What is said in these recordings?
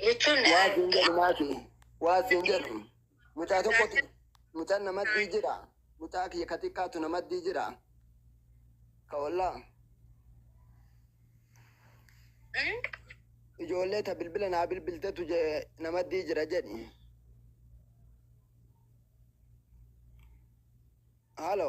jechuun waa siin jedhu maati waa siin jedhu mucaa tokkotu mucaan namaddii jira mucaa kiyya ka xiqqaatu namaddii jira ka ollaa ijoollee ta bilbila naa bilbiltetu je namaddii jira jedhi halo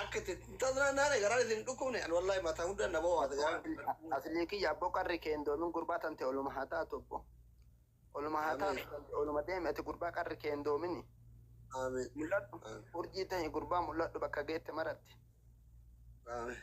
Akka itti tasnaan taane garaan isin hin dhukkubne an wallahi mataa hundaan na boo'aata Obbo garaan. Asli- Aslii kiyya abbo qarri kee hin doomin gurbaa tante oluma haa taatu obbo. Oluma haa taatu Ameen. tante oluma deemi ati gurbaa qarri kee hin doomini. Aamiin. Mul'adhu. Aamiin. Urjii tahi gurbaa mul'adhu bakka geette maratti. Aamiin.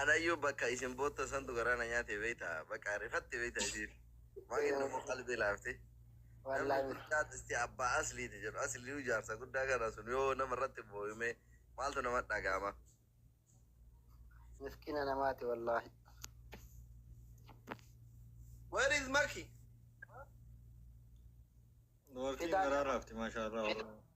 Anayyuu bakka isin boottan santu garaa na nyaate beekta. Bakka rifatte beekta isiin. Maal inni immoo qalbii laafte. Namni Wallaahi. guddaa dhisti abbaa asliiti jedhu asliitu jaarsa guddaa kana sun yoo nama irratti booyume maaltu nama dhagaama. Miskina namaati wallaahi. Where is Maki? Dubartiin Fidaa- garaa raafti maashaallah.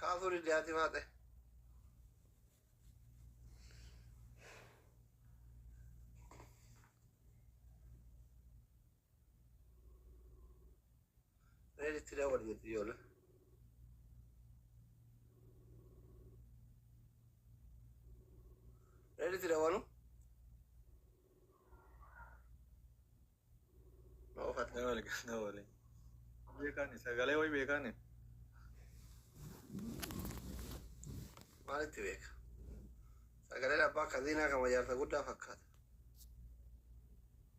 Kaasuu didee ati faaxe. Reeditti daawwadhu jettu ijoollee. Reeditti daawwanu. Oofat nama liqeessa oole. Beekaani sagalee wayi beekaani. Maalitti beeka? Sagaleen abbaa kaziinaa kama jaarsa guddaa fakkaata.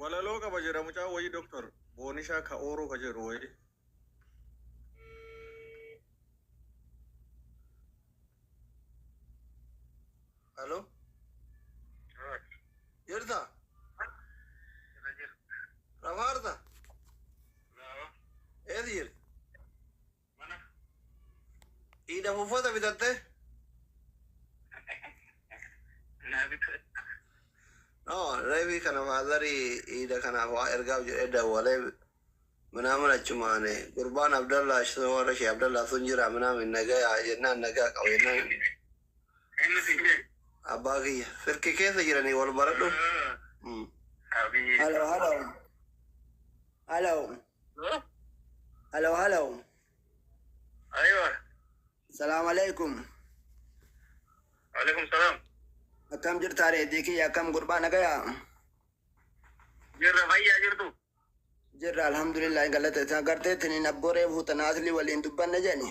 Walaloo qaba jedha mucaan wayii Doktar Boonishaa ka Ooroo ka jedhu wayii. Halo. Jirta? Rafaarta? Eessa jirta? Mana. Iida fufoota bitatte. Naa bitu. No, reefi kana faazari iida kanaaf waa ergaaf jedhee dawwalee minaamin achumaane gurbaan Abdallaa sun warra ishee Abdallaa sun jira minaamin nagaya jennaan nagaa qaba jennaan Inni si jee. abbaa kiyya sirki keessa jiranii wal baradhu. Mm. Abii. Hello, hello. Hello. Hello? Halaw halaw. Aywa. Salaam alaikum. Alaikum salam. Akkam jirtaa reetii kiyya akkam gurbaa nagayaa? Jirra fayyaa jirtu. Jirra alhamdulillah galata isaa garteettiniin abboo reefuu tanaa aslii waliin dubbanne jenni.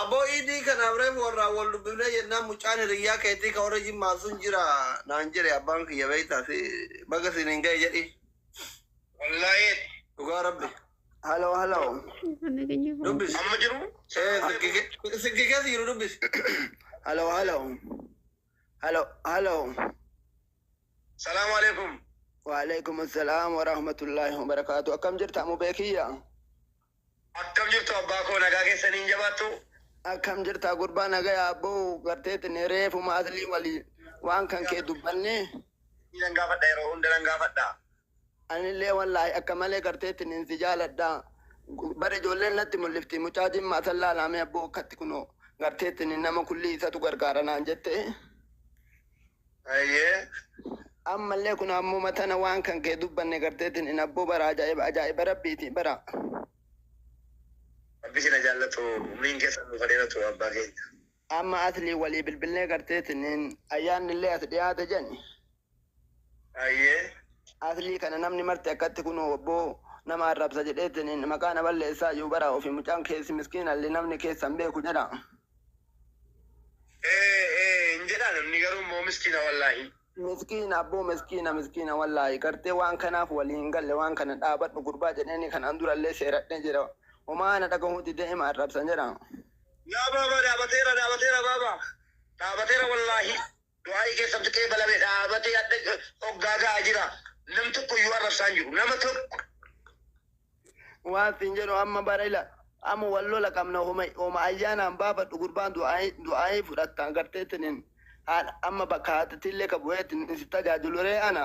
Aboo iidii kanaaf reefu warraan wal dubbifnee jennaan mucaan hiriyyaa keetii ka warra jimmaan sun jira naan jedhe abbaan kiyya beektaa si baga siin hin ga'e jedhi. Wallahi. Dhugaa rabbi. Hello, hello. Dubbis. Amma jiru. Eh, silki ke- silki keessa jiru dubbis. Hello, hello. Hello, hello. Salaamu alaikum. Waalaikum assalam wa rahmatullahi wa barakatuh. Akkam jirta mubeekiyya? Akkam jirtu abbaa koo nagaa keessanii hin jabaattu. Akkam jirtaa gurbaa nagaya abboo garteetine reefuma aslii waliin waan kan kee dubbannee Ni nan gaafadha yeroo hunda nan gaafadha. anillee wallaahi akka malee garteetiniin si jaaladha bara ijoolleen natti mul'ifti mucaa jimmaa san laalaamee abboo akkatti kunoo garteetiniin nama kullii isatu gargaara naan jette Hayyee. Ammallee kun ammuma tana waan kan kee dubbanne garteetiin hin abboo bara ajaa'iba ajaa'iba rabbiiti bara. Rabbi sina jaallatu umriin keessan nuuf dheeratu abbaa keenya. Amma aslii walii bilbillee garteetiin ayyaannillee as dhiyaate jedhi. Hayyee. Aslii kana namni marti akkatti kunoo obboo nama arrabsa jedheetiin maqaa na balleessaa jiru bara ofi mucaan keessi miskiinalli namni keessan beeku jedha. Ee ee hin jedhaa namni garuu immoo miskiina wallaahi. Miskiina abboo miskiina miskiina wallaahi gartee waan kanaaf walii hin galle waan kana dhaabadhu gurbaa jedheeni kanaan dura illee seeradhee jira homaa na dhagahuu didee ima arrabsa jedha. Yaa baaba dhaabateera dhaabateera baaba dhaabateera wallaahi. Du'aa'ii keessatti qeebalame dhaabatee hadha hoggaa ga'a jira. Nam tokko iyyuu arrabsaa hin jiru. Nama tokko. Waan siin jedhu amma bara ila amma wal lola qabna homa homa ayyaanaan baafadhu gurbaan du'aa'ii du'aa'ii fudhatta agarteetiin haadha amma bakka haatitillee ka bu'eetiin si tajaajiluree ana.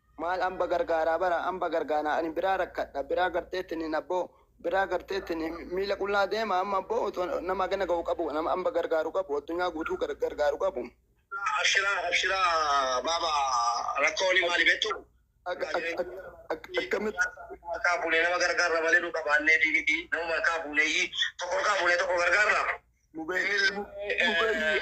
Maal amba gargaaraa bara amba gargaanaa ani biraa rakkadha biraa garteettiniin abboo biraa garteettiniin miila qullaa deema amma abboo otoo nama hagana gahu qabu nama amba gargaaru qabu addunyaa guutuu gargaaru qabu. Abshiraa abshiraa baaba rakkooni maali bettu akkamitti. Harkaa fuune nama gargaarra malee nu qabaannee fi miti namuma harkaa fuuneyyii tokko harkaa fuune tokko gargaarra. Mubee mubee.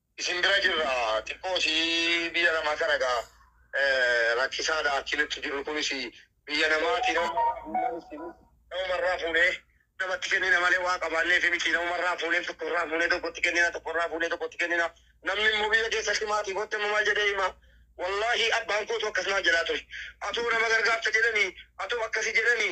Isin bira jirra xiqqoo isii biyya namaa kana gaa rakkisaadha akki nutti jirru kunis biyya namaati namumarraa fuunee namatti kennina malee waa qabaanneef miti namumarraa fuunee tokkorraa fuunee tokkotti kennina tokkorraa fuunee tokkotti kennina namni immoo biyya keessatti maatii kootti amma maal jedhee hima wallaahi abbaan kootu akkas naan jedhaa ture atoo nama gargaarta jedhanii atoo akkasi jedhanii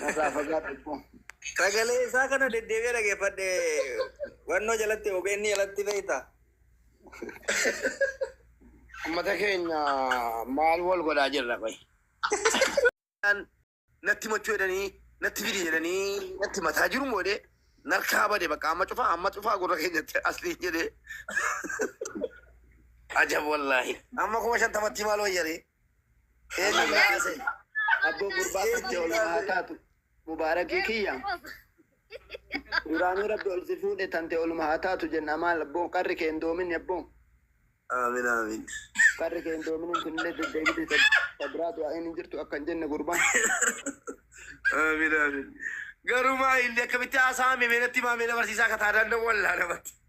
Narraa fagaadhu abboo. Sagalee isaa kana deddeebi'ee dhaggeeffadhe wannoo jalatti OBN jalatti beekta. Ummata keenya maal wal godhaa jirra qoy. Natti machuu jedhanii natti fidi jedhanii natti mataa jiru moode narkaa bade bakka amma cufaa amma cufaa gurra keenyatti asliin jedhee. Ajab wallaahi. Amma kuma shantamatti maal wayyalee. Seerri gadaa seena. Abboo gurbaa fattee ol naa kaatu. Mubaarakii kiyya. Duraanuu rabbi ol si fuudhe tante ol haa taatu jenna maal abboo qarri kee hin doomin abboo. Aamin aamin. Qarri kee hin doomin kun illee deddeebite sabraa du'aa'iin hin jirtu akka hin jenne gurbaa. Aamin aamin. Garuu maa inni akkamitti haasa'ame meenatti maa meena barsiisaa kataa danda'u wallaa namatti.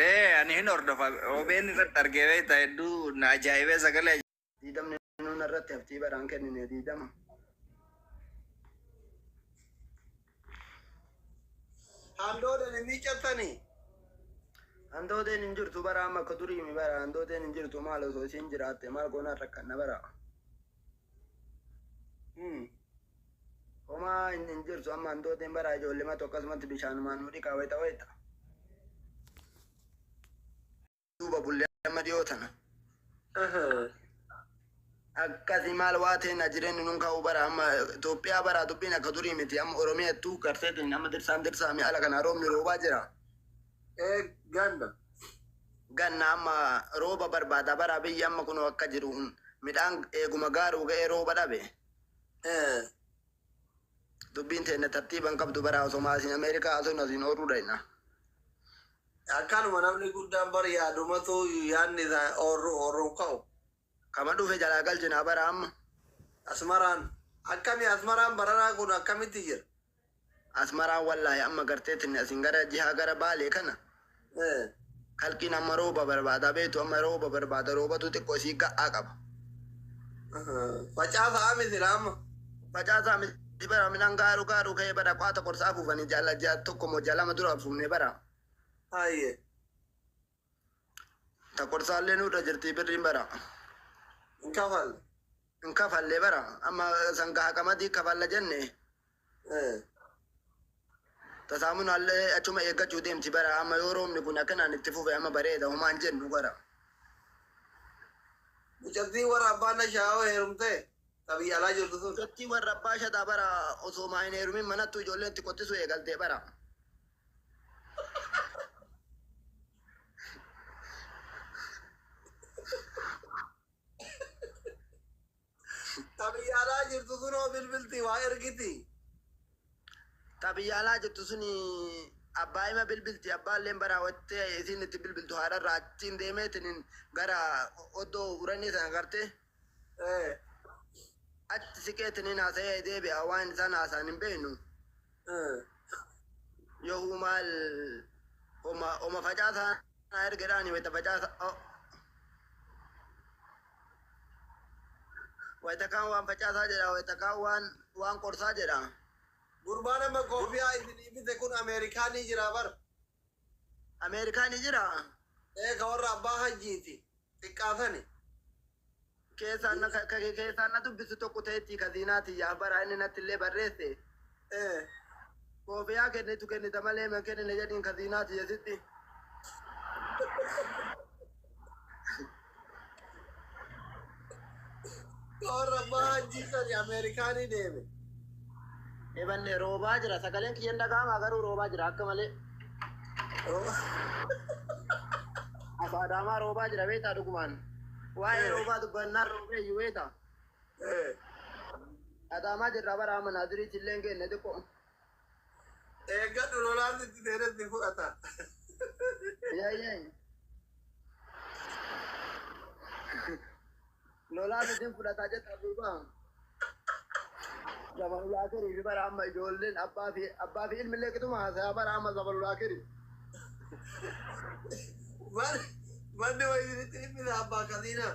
Ee ani hin hordofa OBN irratti argee beekta hedduu na ajaa'ibee sagalee diidamni nuun irratti haftii baraan kennine diidama. Handooden hin miiccattanii? Handooden hin jirtu bara amma akka duriimi bara handooden hin jirtu maal osoo isiin jiraatte maal goonaan rakkanna bara. Homaa hin hin jirtu amma hantooteen bara ijoollimatu akkasumatti bishaanumaan nu dhiqaa wayita wayita. Duuba bullee amma dhiyoo tana. Akkasi maal waa teenna jireenyi nun ka'uu bara amma Itoophiyaa bara dubbiin akka durii miti amma Oromiyaattuu garseetiin amma dirsaan dirsaami ala kana roobni roobaa jira. Ee ganna. ganna amma rooba barbaada bara biyyi amma kunoo akka jiru kun midhaan eeguma gaaruu ga'ee rooba dhabe Ee. dubbiin teenna tartiiba hin qabdu bara osoma asiin ameerikaa asoon asiin oorruu dhayna Akkanuma namni guddaan bar yaadumatu yaadni isaa oorruu oorruun ka'u. Kama dhufe jalaa galchina bara amma. Asmaraan akkami asmaraan bararaa kun akkamitti jira. Asmaraan wallahi amma gartee tinni asin gara jihaa gara baalee kana kalqiin amma rooba barbaada beetu amma rooba barbaada roobatu xiqqo isii ga'aa qaba. Facaasa ami sila amma. Facaasaa miti bara midhaan gaaru gaaru ka'ee bara qaata qorsaa afuufanii jaala ji'a tokko moo ji'a lama dura afuufne bara. Haayye. Ta qorsaallee nurra jirti birriin bara. Hin kafalle. Hin kafalle bara. Amma sangaa qamadii kafalla jenne. Eh. Ta saamunaallee achuma eeggachuu deemti bara. Amma yoo roobni kun akkanaan itti fufe amma bareeda homaan jennu bara. Mucattii warra abbaan nashaa'oo heerumtee ta biyya alaa jirtu sun. Mucattii warra abbaa shataa bara osoo maa hin heerumin manattu ijoolleen itti qottisuu eegalte bara. Tabiyyaalaa jirtu sunoo bilbilti waa ergiti. Tabiyyaalaa jirtu suni abbaa hima bilbilti abbaan leen baraa wattee isiin itti bilbiltu haadharraa achiin deemeetiin gara oddoo urannee sana gartee Ee. Achi siqeetiniin haasa'ee deebi'a waan isaan haasa'an hin beeknu. Ee. Yohuu maal oma oma facaasaa na ergedhaani wayita facaasa o- wayita kaan waan facaasaa jedha wayita kaan waan waan qorsaa jedha. Gurbaan amma koofiyaa isinii bite kun Ameerikaa ni jira bar. Ameerikaa ni jira. Ee ka warra abbaa hajjiiti. xiqqaafani keessaan na ka- ka- keessaan na dubbisu tokko ta'etti kaziinaa tiyyaaf bara inni natti illee barreesse ee koofiyaa kennitu kennita malee man kennine jedhiin kaziinaa tiyya sitti Warra baajii sani Ameerikaanii deeme. Ebanne roobaa jira sagaleen kiyyan dhaga'ama garuu roobaa jira akka malee. As Adaamaa roobaa jira beektaa dhugumaan. Waa'ee Eh. roobaa dubbannaa roobee iyyuu beektaa. Eh, Adaamaa jirra bara amma naaziriitti illee hin geenne xiqqoo. Eeggadhu lolaan sitti seenee si fudhata. Yaayee. Lolaan isin fudhataa jettaa duubaa. Zabalul Akirii fi bara amma ijoolleen abbaa fi abbaa fi ilmi illee qixuma haasayaa bara amma Zabalul Akirii. Bar barni wayinitti dhiphisa abbaa kasiinaa.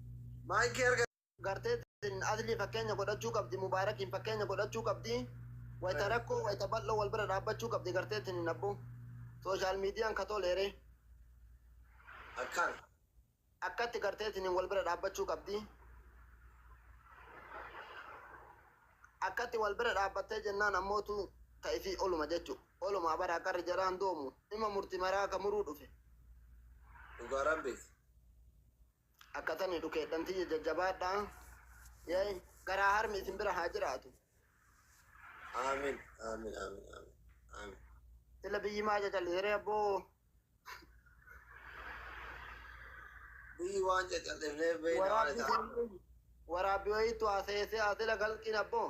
Maayikii erga garteetiin Adlii fakkeenya godhachuu qabdi, Mubaarakiin fakkeenya godhachuu qabdi, wayta rakkoo, wayta bal'oo wal bira dhaabbachuu qabdi garteetiin abbo. Social median ka tolee ree? Akkaan. Akkatti garteetiin wal bira dhaabbachuu qabdi. Akkatti wal bira dhaabbattee jennaan ammootu ta ifii oluma jechu. Olumaa bara aqarri jaraan doomu ima murti maraa ka muruu dhufe. Dhugaa Rabbiif. Akkatani dhukeedhan tiyya jajjabaadha yay garaa harmi isin bira haa jiraatu. Amen Amen Amen Amen Amen. Sila biyyi maa cacallisere abboo. Biyyi waan cacallisnee beeyna waan Waraabbi isaa. wayii- waraabbi wayiitu haasa'ee si'a sila galqiin abboo.